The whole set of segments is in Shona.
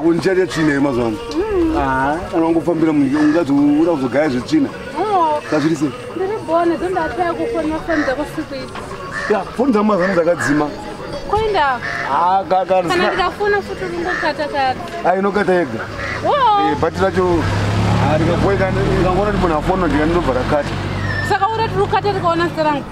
kundichaita tsvina yemazuva ano kana wangofambira munyika ungati uda kuzogaya zvetsvina kazviri sei foni dzangu mazano dzakadzima inokata yega bhati racho rikagoikana ikangona ndibona foni ndikandinobva rakata saka ura tiri kukata tikaona serangu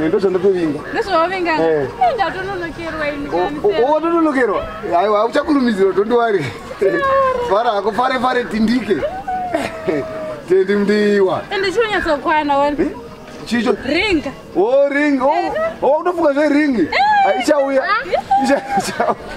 Eh, ndozvandatovinga ndozvavavinga eh. eh, ndatononokerwa ini watononokerwa aiwa auchakurumizirwa tondiwari fara hako fare fare tindike tendi mdiwa ende chinonyatsokwana wani eh? chicho ringa o oh, ringa o oh, oh, kutofunga zveringi aichauya ah,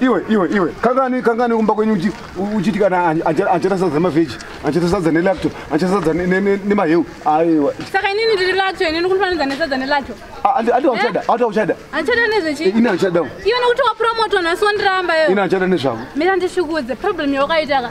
iwe iwe iwe kangani kangani kumba kwenyu uchiti kana achata sadza nemavheji achata sadza nelacto achata sadza nemaheu aiwa saka inini ndiri lacto inini kunifanidza nesadza nelacto andiwachada eh? ati wachada achada nezvechi ini achada iwe nekuti wapromoto nhasi wandiramba iwe ini achada nezvavo mira ndishikudze problem yawakaitaka